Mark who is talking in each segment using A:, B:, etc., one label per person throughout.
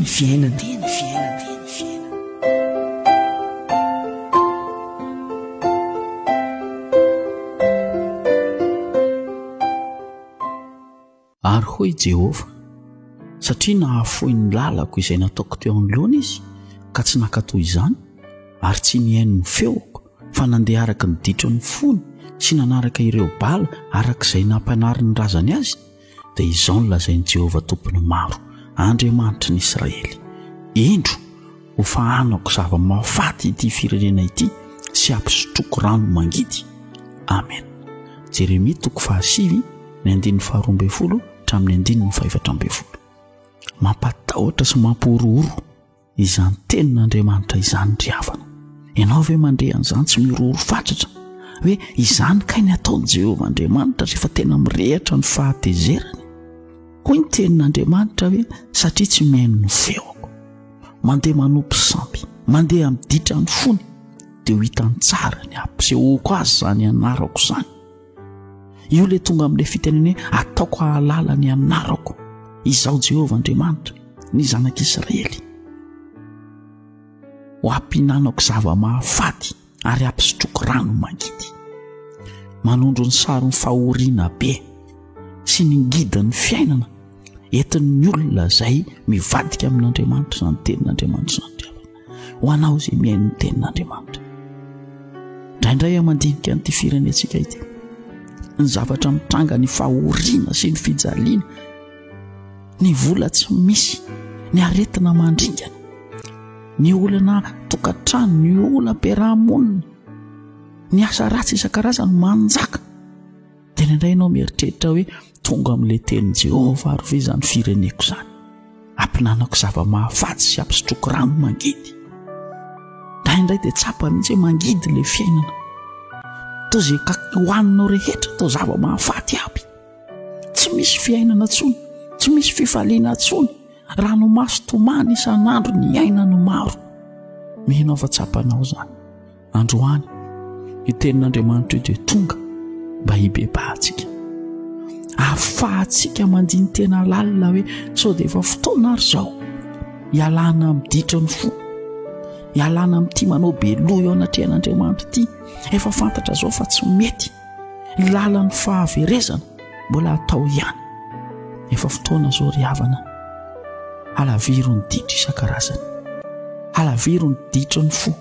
A: ny fiainana.
B: Ary hoy i Jehovah, Satria nahafoy ny lalako izay nataoko teo anoloany izy, ka tsy nankatò izany, ary tsy nihaino ny feoko, fa nandeha araka ny ditron'ny fony sy nanaraka ireo bala araka izay nampianarin'ny razany azy, dia izao no lazain'i Jehovah Tompon'ny maro, Andriamanitry ny Israely, Indro, hofahanako zava-mahafaty ity firenena ity sy hampisotroako rano mangidy. Amena. Jeremia toko fahasivy, ny andininy faharoa ambin'ny folo hatramin'ny andininy fahefatra ambin'ny folo. Mampatahotra sy mampihorohoro. izany tenin'Andriamanitra izany ry havana. Ianao ve mandre an'izany tsy miroro fatratra hoe izany kay ny ataon'i Jehovah Andriamanitra rehefa tena mirehatra ny fahatezerany? Hoy ny tenin'Andriamanitra hoe satria tsy mihaino ny feoko. Mandeha manopy sampy, mandeha amin'ny ditran'ny fony dia ho hitany tsara ny hampisehoako azy izany anarako izany. io ilay tonga amin'ilay fitenenena hoe ataoko hahalala ny anarako izaho jehovah andriamanitra ny zanak'israely ho ampinanako zava-mahafaty ary ampisotroko rano mangidy manondro ny saron'ny fahoriana be sy ny ngidan'ny fiainana entin'ny olona izay mivadika amin'andriamanitra izany tenin'andriamanitra izany ho anao izay mihaino ny tenin'andriamanitra indraindray a mandinika n'ity firenentsika ity ny zavatra mitranga ny fahoriana sy ny fijaliana ny vola tsy misy ny aretina mandringana ny olana tokantrano ny ola-piarahamonina ny asa ratsy isan-karazany manjaka Dia indraindray ianao mieritreritra hoe tonga amin'ilay tenin'i Jehovah ary ve izany fireneko izany? Ampihinanako zava-mahafaty sy ampisotroako rano mangidy. Indraindray dia tsapa mihitsy hoe mangidy ilay fiainana. Toa izay kaky hohaninao rehetra toa zava-mahafaty aby. Tsy misy fiainana intsony, tsy misy fifaliana intsony. Ranomaso tomany isan'andro ny aina no maro. Mino aho fa tsapanao izany. androany i tenin'andriamanitra io dia tonga mba hibebahantsika afahantsika mandiny tena lalina hoe sao dia efa fotoana ary zao hialana ami'ny ditra ny fo hialana ami'ty manao be loha eo anatrehan'andriamanitra ity efa fantatra zao fa tsy mety ny lalan'ny fahaverezana mbola atao ihany efa fotoana zao ry havana alaviro ny ditra isan-karazany alaviro ny ditra ny fo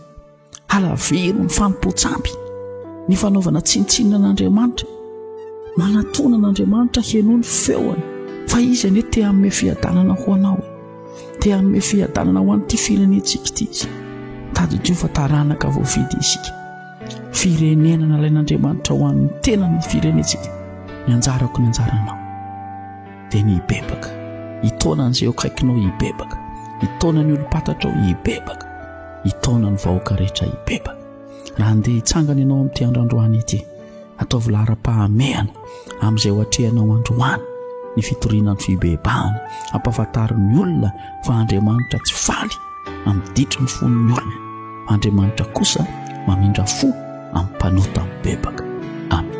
B: Halaviro ny fanompoan-tsampy, ny fanaovana tsinontsinona an'Andriamanitra. Manatona an'Andriamanitra heno ny feony fa izy anie te hanome fiadanana ho anao, te hanome fiadanana ho an'ity firenentsika ity izy. Tadidio fa taranaka voavidy isika. Firenena nalain'Andriamanitra ho an'ny tenany ny firenentsika. Ny anjarako ny anjaranao dia ny hibebaka. Itaona an'izay eo akaikinao hibebaka. Itaona ny olom-patatrao hibebaka. hitaona ny vahoaka rehetra hibebaka. Raha handeha hitsangana ianao amin'ity andro androany ity, ataovy laharam-pahamehana amin'izay ho atrehanao androany ny fitoriana ny fibebahana. Ampafantaro ny olona fa Andriamanitra tsy faly amin'ny ditry ny fon'ny olona. Andriamanitra kosa mamindra fo amin'ny mpanota mibebaka. Amen.